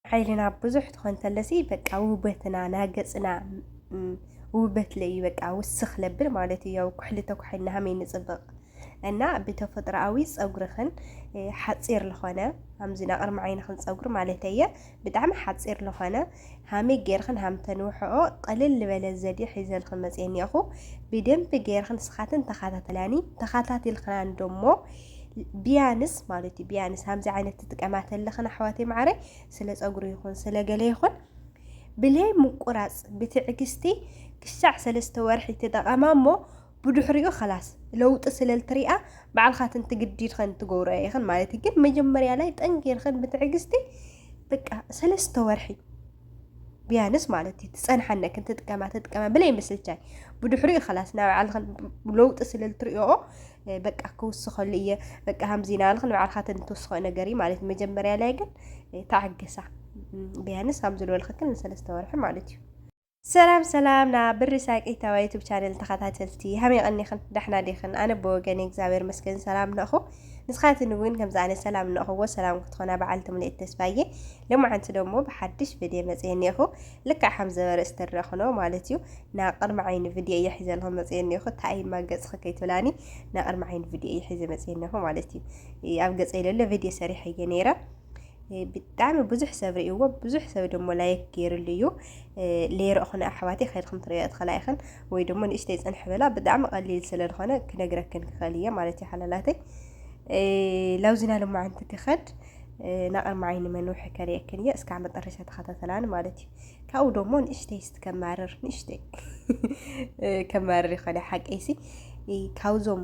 ዓይንና ብዙሕ ትኾን ተለሲ በቃ ውበትና ናገፅና ውበት ለዩ በቃ ውስኽ ለብል ማለት እዩ። ያው ኩሕሊ ተኩሕልና ሃመይ ንፅብቕ እና ብተፈጥሮኣዊ ፀጉርኽን ሓፂር ዝኾነ ከምዚ ናቕርሚ ዓይንኽን ፀጉሪ ማለት እየ ብጣዕሚ ሓፂር ዝኾነ ሃመይ ገይርኽን ሃምተንውሕኦ ቐልል ዝበለ ዘዴ ሒዘልኽን መፅየኒ እኹ ብደንቢ ገይርኽን ስኻትን ተኸታተላኒ ተኸታቲልኽና እንዶሞ ብያንስ ማለት እዩ ብያንስ ከምዚ ዓይነት ትጥቀማ ተለኽን ኣሕዋተይ ማዕረይ ስለ ፀጉሪ ይኹን ስለ ገለ ይኹን ብለይ ምቁራፅ ብትዕግስቲ ክሻዕ ሰለስተ ወርሒ ተጠቐማ እሞ ብድሕሪኡ ከላስ ለውጢ ስለልትሪኣ ባዕልኻ ትንትግዲድኸን ትገብሮ ይኽን ማለት እዩ ግን መጀመርያ ላይ ጠንጊርኸን ብትዕግስቲ በቃ ሰለስተ ወርሒ ቢያንስ ማለት እዩ ትፀንሓነ ክንትጥቀማ ትጥቀማ ብለይ ምስልቻይ ብድሕሪኡ ከላስ ናብ ባዕልኽን ለውጢ ስለ ልትሪኦ በቃ ክውስኸሉ እየ በቃ ሃምዚና ልኽን ባዕልኻ ተንትውስኸ ነገር እዩ ማለት መጀመርያ ላይ ግን ተዓገሳ ቢያንስ ሃም ዝበልኽክን ንሰለስተ ወርሒ ማለት እዩ ሰላም ሰላም ና ብሪ ሳቂታዋ ዩቱብ ቻነል ተኸታተልቲ ሃመይ ቐኒኽን ዳሕና ዲኽን ኣነ ብወገን እግዚኣብሔር መስገን ሰላም ነኹ ንስኻትን እውን ከምዚ ኣነ ሰላም እንእኽዎ ሰላም ክትኾና በዓልቲ ሙሉኤት ተስፋ እየ ሎማዓንቲ ደሞ ብሓድሽ ቪድዮ መፅየ እኒኤኹ ልክዕ ከም ዘበርእስ ትረኽኖ ማለት እዩ ናብ ቅድሚ ዓይኒ ቪድዮ እየ ሒዘልኹም መፅየ እኒኤኹ ታይ እማ ገፅኺ ከይትብላኒ ናብ ቅድሚ ዓይኒ ቪድዮ እየ ሒዘ መፅየ እኒኤኹ ማለት እዩ ኣብ ገፀይ ለሎ ቪድዮ ሰሪሐ እየ ነይረ ብጣዕሚ ብዙሕ ሰብ ርእይዎ ብዙሕ ሰብ ደሞ ላይክ ገይርሉ እዩ ለይረእኹን ኣሕዋተይ ከድኹም ትርእዮ ትኽእላ ኢኽን ወይ ደሞ ንእሽተይ ጽንሕ በላ ብጣዕሚ ቀሊል ስለ ዝኾነ ክነግረክን ክኸል እየ ማለት እዩ ሓላላተይ ላውዝና ልማዓንቲ ክኸድ ናቕርማ ዓይኒ መንውሒ ከርእየክን እየ እስካዕ መጠረሻ ተኸታተላን ማለት እዩ ካብኡ ደሞ ንእሽተይ ስት ከማርር ንእሽተይ ከማርር ይኸለ ሓቀይሲ ካብዞም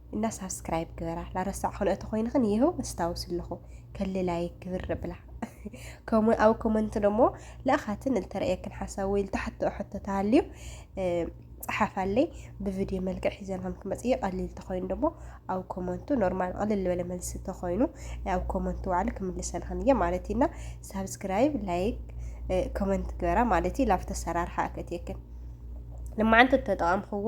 እና ሳብስክራይብ ግበራ ላረሳዕ ክልኦ ተኮይንክን ይህው ኣስታውስ ኣለኹ ከሊ ላይክ ግብር ብላ ከምኡ ኣብ ኮመንት ደሞ ለእኻትን እልተረእየክን ሓሳብ ወይ ልተሓተኦ ሕቶ ተሃልዩ ፀሓፋለይ ብቪድዮ መልክዕ ሒዘናም ክመፅእ ቀሊል ተኮይኑ ደሞ ኣብ ኮመንቱ ኖርማል ቀልል ዝበለ መልሲ ተኮይኑ ኣብ ኮመንቱ ባዕሉ ክምልሰልክን እየ ማለት እዩና ሳብስክራይብ ላይክ ኮመንት ግበራ ማለት እዩ ላብቲ ኣሰራርሓ ኣከትየክን ንማዓንቲ ተጠቐምክዎ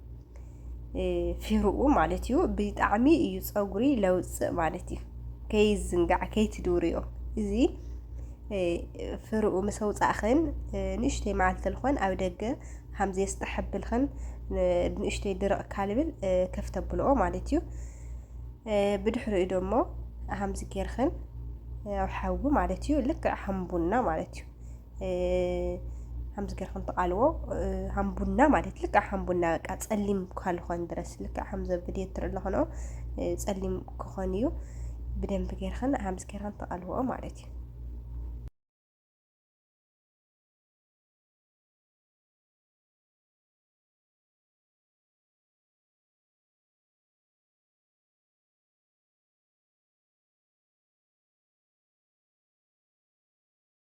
ፊሩኡ ማለት እዩ ብጣዕሚ እዩ ፀጉሪ ለውፅእ ማለት እዩ ከይዝንጋዕ ከይትድውርዮ እዚ ፍርኡ ምስ ኣውፃእኽን ንእሽተይ መዓልቲ ልኾን ኣብ ደገ ሃምዘ የስጠሐብልኽን ንእሽተይ ድርቕ ካልብል ከፍተብልኦ ማለት እዩ ብድሕሪኡ ደሞ ሃምዚ ጌርኽን ኣብ ሓዊ ማለት እዩ ልክዕ ሃምቡና ማለት እዩ ከምዚ ገርኩም ትቃልዎ ሃም ቡና ማለት ልክዕ ሃም ቡና በቃ ጸሊም ካልኾን ድረስ ልክዕ ከምዚ ብድዮ ትርኢ ኣለኾኖ ጸሊም ክኾን እዩ ብደንብ ገርክን ሃምዚ ገርክን ትቃልዎ ማለት እዩ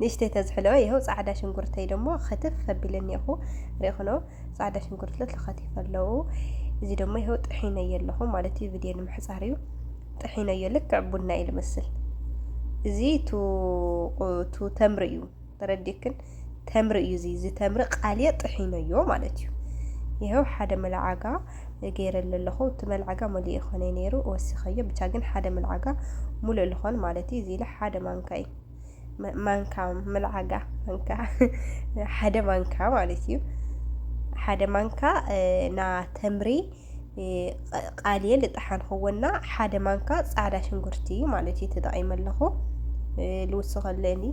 ንእሽተይ ተዝሕሎ ይኸው ጻዕዳ ሽንጉርተይ ደሞ ኸትፍ ኣቢለ እኒኹ ሪእኹኖ ጻዕዳ ሽንጉርት ለት ልኸቲፍ ኣለዉ እዚ ደሞ ይኸው ጥሒነዮ ኣለኹ ማለት እዩ ቪድዮ ንምሕጻር እዩ ጥሒነዮ ልክዕ ቡና እዩ ልመስል እዚ ቱ ተምሪ እዩ ተረዲክን ተምሪ እዩ እዚ እዚ ተምሪ ቃልየ ጥሒነዮ ማለት እዩ ይኸው ሓደ መለዓጋ ገይረሉ ኣለኹ እቲ መልዓጋ መሊኡ ይኾነይ ነይሩ ወሲኸዮ ብቻ ግን ሓደ መልዓጋ ሙሉእ ልኾን ማለት እዩ እዚ ኢለ ሓደ ማንካ እዩ ማንካ መልዓጋ ማንካ ሓደ ማንካ ማለት እዩ ሓደ ማንካ ና ተምሪ ቃልየ ልጠሓንክዎና ሓደ ማንካ ፃዕዳ ሽንጉርቲ ማለት እዩ ተጠቒመ ኣለኹ ልውስኸለኒ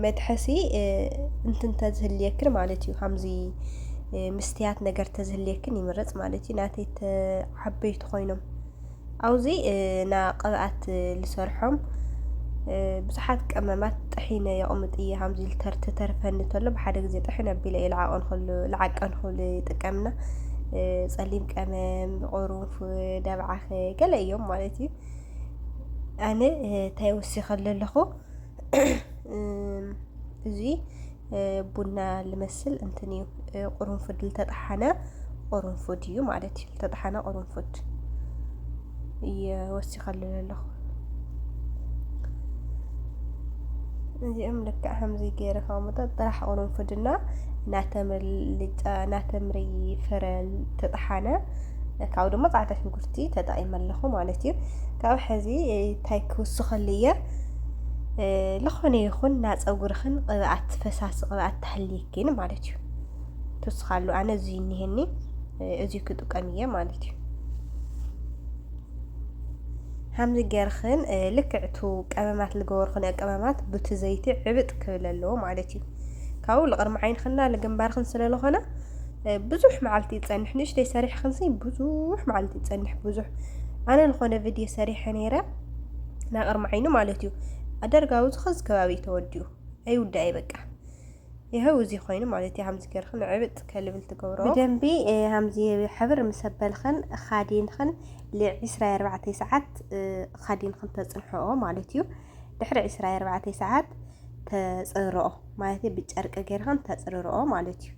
መትሐሲ እንትን ተዝህልየክን ማለት እዩ ከምዚ ምስትያት ነገር ተዝህልየክን ይምረፅ ማለት እዩ ናተይ ዓበይቲ ኮይኖም ኣብዚ ና ቅብኣት ዝሰርሖም ብዙሓት ቀመማት ጥሒነ የቕምጥ እየ ከምዚ ልተርቲ ተርፈኒ ተሎ ብሓደ ግዜ ጥሒነ ኣቢለ እየ ልዓቐን ክሉ ልዓቀን ክሉ ይጥቀምና ጸሊም ቀመም ቁሩንፉ ደብዓኸ ገለ እዮም ማለት እዩ ኣነ እንታይ ወሲኸሉ ኣለኹ እዚ ቡና ልመስል እንትን እዩ ቁርንፉድ ዝተጠሓነ ቁርንፉድ እዩ ማለት እዩ ዝተጠሓነ ቁርንፉድ ወሲኸሉ ኣለኹ እዚኦም ልክዕ ከምዚ ገይረ ከሙጠ ጥራሕ ቁርንፉድና ናተምሪ ፍረ ተጠሓነ ካብኡ ድማ ፃዕዳ ሽጉርቲ ተጠቒመ ኣለኹ ማለት እዩ ካብ ሕዚ እንታይ ክውስኸሉ እየ ዝኾነ ይኹን ና ፀጉርኽን ቅብኣት ፈሳሲ ቅብኣት ተሃልየኪን ማለት እዩ ትውስኻሉ ኣነ እዚ እኒሄኒ እዚ ክጥቀም እየ ማለት እዩ ከምዚ ጌርኽን ልክዕቱ ቀመማት ዝገበርኽን ቀመማት ብቲ ዘይቲ ዕብጥ ክብል ኣለዎ ማለት እዩ ካብኡ ልቕርሚ ዓይንኽና ልግንባርኽን ስለ ዝኾነ ብዙሕ መዓልቲ ይጸንሕ ንእሽተይ ሰሪሕክንሲ ብዙሕ መዓልቲ ይጸንሕ ብዙሕ ኣነ ዝኾነ ቪድዮ ሰሪሐ ነይረ ናይ ቅርሚ ዓይኒ ማለት እዩ ኣደርጋዊ ዝኸዚ ከባቢ ተወዲኡ ኣይውዳእ በቃ ይኸው እዚ ኮይኑ ማለት እዩ ሃምዚ ገርክን ዕብጥ ከልብል ትገብሮ ብደንቢ ሃምዚ ሕብር ምስ ኣበልኽን ኻዲንኽን ልዕስራ ኣርባዕተ ሰዓት ኻዲንኽን ተጽንሕኦ ማለት እዩ ድሕሪ ዕስራ ኣርባዕተ ሰዓት ተጽርኦ ማለት ብጨርቂ ገርክን ተጽርርኦ ማለት እዩ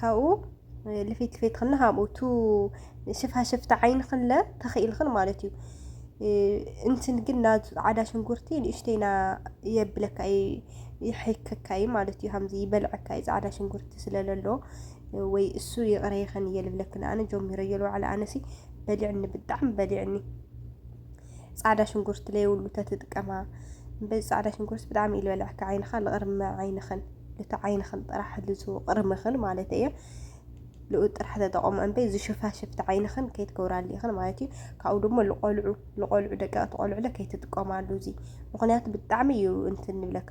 ካብኡ ልፊት ልፊት ክና ሃብኡ ቱ ሽፋሽፍቲ ዓይኒ ክለ ተኽኢልኽን ማለት እዩ እንትን ግን ናብ ፃዕዳ ሽንጉርቲ ንእሽተይና የብለካ እዩ ይሕከካ እዩ ማለት እዩ ከምዚ ይበልዐካ እዩ ፃዕዳ ሽንጉርቲ ስለለሎ ወይ እሱ ይቕረይኽን እየ ልብለክን ኣነ ጀሚረዮ ልዋዕለ ኣነሲ በሊዕኒ ብጣዕሚ በሊዕኒ ጻዕዳ ሽንጉርቲ ለይብሉ ተትጥቀማ በዚ ጻዕዳ ሽንጉርቲ ብጣዕሚ እዩ ዝበልዐካ ዓይንኻ ልቕርሚ ዓይንኽን ልቲ ዓይንኽን ጥራሕ ልዙ ቅርምኽን ማለት እየ ልኡ ጥራሕ ተጠቐሙ እምበይ እዚ ሽፋሽፍቲ ዓይንኽን ከይትገብራሉ ኢኽን ማለት እዩ ካብኡ ድማ ልቆልዑ ልቆልዑ ደቀቕቲ ቆልዑለ ከይትጥቀማሉ እዚ ምክንያቱ ብጣዕሚ እዩ እንትን ንብለካ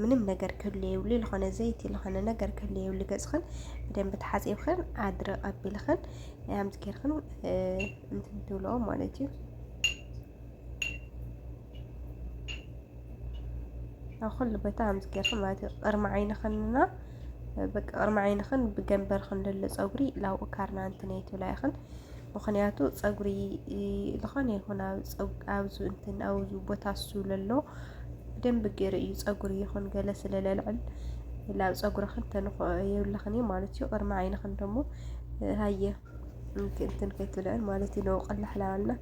ምንም ነገር ክህሉ የብሉ ዝኾነ ዘይቲ ዝኾነ ነገር ክህሉ የብሉ ገፅኽን ብደንብ ተሓፂብኽን ዓድሪ ቀቢልኽን ኣምፅ ጌርኽን እንትን ትብልኦ ማለት እዩ ኣብ ኩሉ ቦታ ኣምፅ ጌርኽን ማለት እዩ ቅርሚ ዓይንኽንና በቃ ቅርሚ ዓይንኽን ብገንበርኽን ዘሎ ፀጉሪ ላብኡ ካርና እንትን ኣይትብላ ኢኽን ምክንያቱ ፀጉሪ ዝኾነ ይኹን ኣብዚ እንትን ኣብዚ ቦታ እሱ ለሎ ብደንብ ገይሩ እዩ ፀጉሪ ይኹን ገለ ስለ ለልዕል ናብ ፀጉርኽን ተንኾ የብልኽን እዩ ማለት እዩ ቅድሚ ዓይንኽን ደሞ ሃየ እንትን ከይትብልዕን ማለት እዩ ነውቅል ላሕላዋልና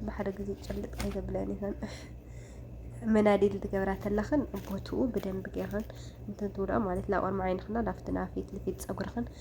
ብሓደ ግዜ ጭልጥ ከይተብለን ይኽን መናዲል ትገብራ ተለኽን ቦትኡ ብደንብ ገይኽን እንትን ትብልዖ ማለት ናብ ቅድሚ ዓይንኽና ናብቲ ናብ ፊት ንፊት ፀጉርኽን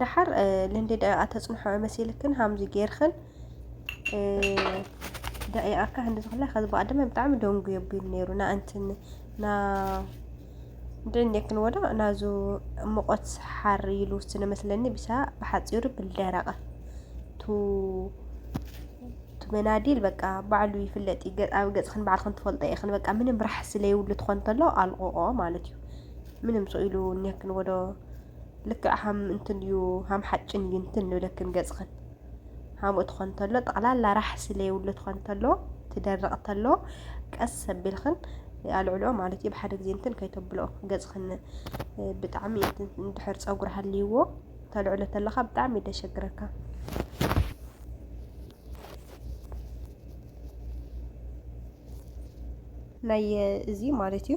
ደሓር ልንዲ ደቂቓ ተፅንሖ መሲልክን ሃምዚ ጌርክን ደቂቓ ካ ክንዲ ዝኽላ ከዚ በኣ ድማ ብጣዕሚ ደንጉ የቢሉ ነይሩ ናእንትን ና ድዕኔክን ወዳ ናዙ ሙቆት ሓር ኢሉ ስነ መስለኒ ብሳ ብሓፂሩ ብልደረቐ ቱ መናዲል በቃ ባዕሉ ይፍለጥ እዩ ኣብ ገፅክን ባዕልክን ትፈልጦ ኢኽን በቃ ምንም ራሕሲ ለይብሉ ትኾን ተሎ ኣልቕቆ ማለት እዩ ምንም ሰው ኢሉ እኒሀክን ወዶ ልክዕ ሃም እንትን እዩ ሃም ሓጭን እዩ እንትን ንብለክን ገጽኽን ሃምኡ ትኾን ተሎ ጠቕላላ ራሕሲ ለየብሉ ትኾን ተሎ ትደርቕ ተሎ ቀስ ሰቢልኽን ኣልዕልኦ ማለት እዩ ብሓደ ግዜ እንትን ከይተብልኦ ገጽኽን ብጣዕሚ እንድሕር ፀጉሪ ሃልይዎ ተልዕሎ ተለኻ ብጣዕሚ ደሸግረካ ናይ እዚ ማለት እዩ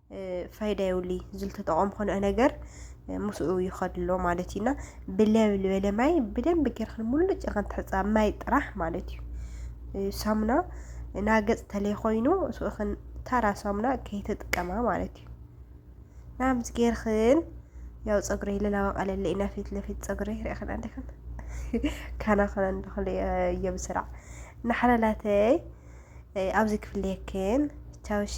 ፋይዳ የብሉ እዩ ዝልተጠቐም ኮነ ነገር ምስኡ ይኸድ ኣሎ ማለት እዩና ብለብ ዝበለ ማይ ብደንብ ጌርክን ሙሉጭ ኢልክን ትሕፃ ማይ ጥራሕ ማለት እዩ ሳሙና ናገፅ ተለይ ኮይኑ ስኡኽን ታራ ሳሙና ከይተጥቀማ ማለት እዩ ናምስ ጌርክን ያው ፀጉሪ ለላወቀለለ ኢና ፊት ለፊት ፀጉሪ ሪእኽን ኣለክን ካናኽን እንደኽል እየብስራዕ ናሕለላተይ ኣብዚ ክፍልየክን ቻውሺ